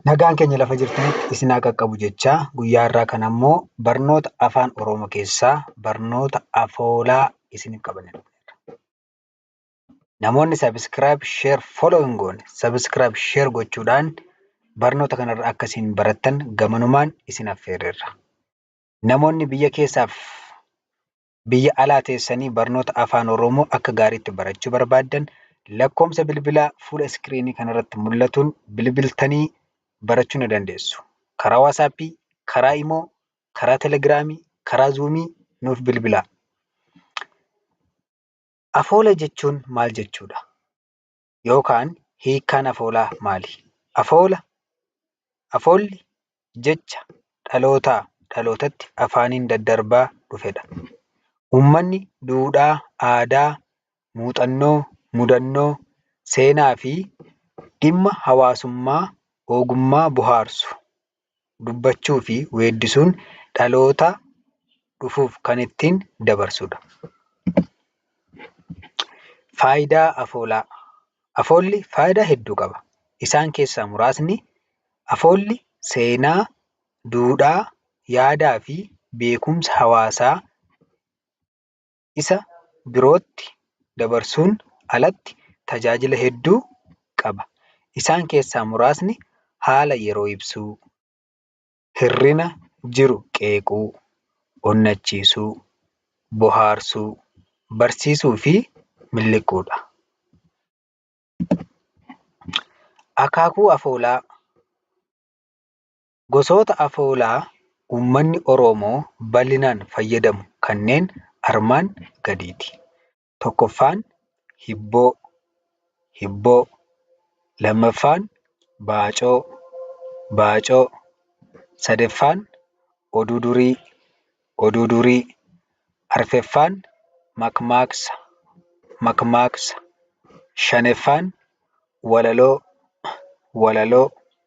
Nagaan keenya lafa jirtanitti isin haa qaqqabu jechaa guyyaa irraa kan ammoo barnoota afaan Oromoo keessaa barnoota afoolaa isiniif qabanne dhufneerra. Namoonni subscribe, share, follow hin goone subscribe, share gochuudhaan barnoota kanarra akka isin barattan gamanumaan isin affeerreerra. Namoonni biyya keessaaf biyya alaa teessanii barnoota Afaan Oromoo akka gaariitti barachuu barbaaddan lakkoomsa bilbilaa fuula iskiriinii kanarratti mul'atuun bilbiltanii barachuu ni dandeessu. Karaa Waasaappii, karaa Imoo, karaa Telegiraamii, karaa Zuumii nuuf bilbilaa. Afoola jechuun maal jechuudha? yookaan hiikkaan afoolaa maali? Afoola, Afoolli jecha dhalootaa dhalootatti afaaniin daddarbaa dhufedha. Uummanni duudhaa, aadaa, muuxannoo, mudannoo, seenaafi dhimma hawaasummaa ogummaa bohaarsu. dubbachuufi weeddisuun dhaloota dhufuuf kan ittiin dabarsudha. Faayidaa afoolaa. Afoolli faayidaa hedduu qaba. Isaan keessaa muraasni, afoolli seenaa, duudhaa, yaadaafi beekumsa hawaasaa isa birootti dabarsuun alatti tajaajila hedduu qaba. Isaan keessaa muraasni haala yeroo ibsuu, hirrina jiru qeequu, onnachiisuu, bohaarsuu, barsiisuu fi miliquu dha. Akaakuu afoolaa. Gosoota afoolaa uummanni Oroomoo bal'inaan fayyadamu kanneen armaan gadiiti. Tokkoffaan hibboo, hibboo. Lammaffaan baacoo, baacoo. Sadeffaan oduu durii, oduu durii. Arfeffaan makmaaksa, makmaaksa. Shaneffaan walaloo, walaloo.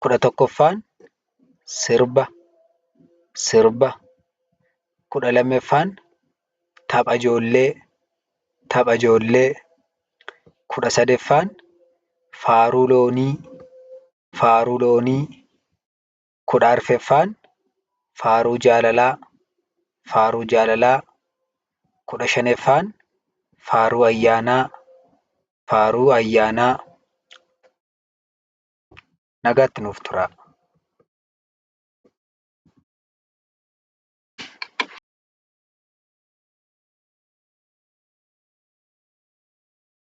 kudha tokkoffaan sirba sirba kudha lammaffaan tapha ijoollee tapha ijoollee kudha sadaffaan faaruu loonii faaruu loonii kudha arfaffaan faaruu jaalalaa faaruu jaalalaa kudha shanaffaan faaruu ayyaanaa faaruu ayyaanaa Nagaatti nuuf turaa.